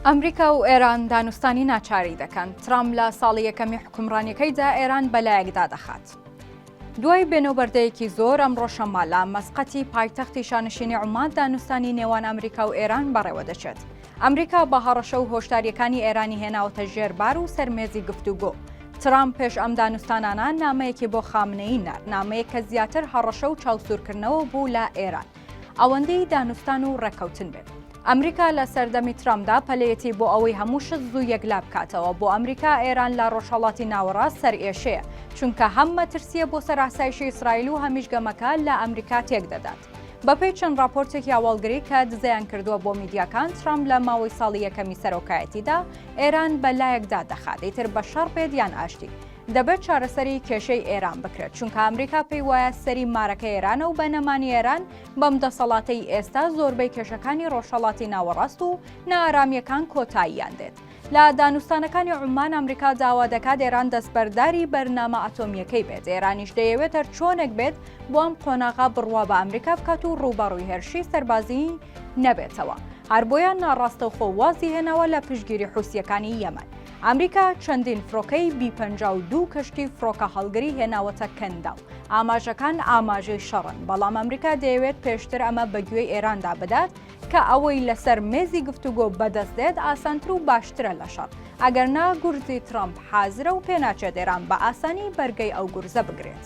ئەمریکا و ئێران دانوستانی ناچاری دەکەن، ترامپ لە ساڵی یەکەمی حکومڕانیەکەیدا ئێران بەلایەکدا دەخات. دوای بێنەوبەردەیەکی زۆر ئەمڕۆ شەممە لە مەسقەتی پایتەختی شانشینی عومان دانوستانی نێوان ئەمریکا و ئێران بەڕێوە دەچێت. ئەمریکا بە هەڕەشە و هۆشداریەکانی ئێرانی هێناوەتە ژێر بار و سەرمێزی گفتوگۆ. ترامپ پێش ئەم دانوستانانە نامەیەکی بۆ خامنەیی نارد، نامەیەک کە زیاتر هەڕەشە و چاوسورکردنەوە بوو لە ئێران. ئەوەندەی دانوستان و ڕێککەوتن بێت. ئەمریکا لە سەردەمی ترامدا پەلەیەتی بۆ ئەوەی هەموو شت زوو یەکلا بکاتەوە بۆ ئەمریکا ئێران لە ڕۆژهەڵاتی ناوەڕاست سەر ئێشەیە چونکە هەم مەترسیە بۆ سەر ئاسایشی ئیسرائیل و هەمیش گەمەکە لە ئەمریکا تێک دەدات بەپێی چەند ڕاپۆرتێکی هەواڵگری کە دزەیان کردووە بۆ میدیاکان ترامپ لە ماوەی ساڵی یەکەمی سەرۆکایەتیدا ئێران بە لایەکدا دەخات ئیتر بە شەڕ بێت یان ئاشتی دەبێت چارەسەری کێشەی ئێران بکرێت چونکە ئەمریکا پێی وایە سەری مارەکە ئێرانە و بە نەمانی ئێران بەم دەسەڵاتەی ئێستا زۆربەی کێشەکانی ڕۆژهەڵاتی ناوەڕاست و نائارامیەکان کۆتاییان دێت لە دانوستانەکانی عمان ئەمریکا داوا دەکات ئێران دەستبەرداری بەرنامە ئەتۆمیەکەی بێت ئێرانیش دەیەوێت هەر چۆنێک بێت بۆ ئەم قۆناغا بڕوا بە ئەمریکا بکات و ڕووبەڕووی هێرشی سەربازی نەبێتەوە هەر بۆیان ناڕاستەوخۆ وازی هێناوە لە پشگیری حوسیەکانی یەمەن ئەمریکا چەندین فڕۆکەی بی پەنجا و دوو کەشتی فڕۆکەهەڵگری هێناوەتە کەنداو. ئاماژەکان ئاماژەی شەڕن، بەڵام ئەمریکا دەیەوێت پێشتر ئەمە بەگوێی ئێراندا بدات کە ئەوەی لەسەر مێزی گفتوگۆ بەدەست دێت ئاسانتر و باشترە لە شەڕ، ئەگەرنا گورزی ترەمپ حازرە و پێناچێت ئێران بە ئاسانی بەرگەی ئەو گورزە بگرێت.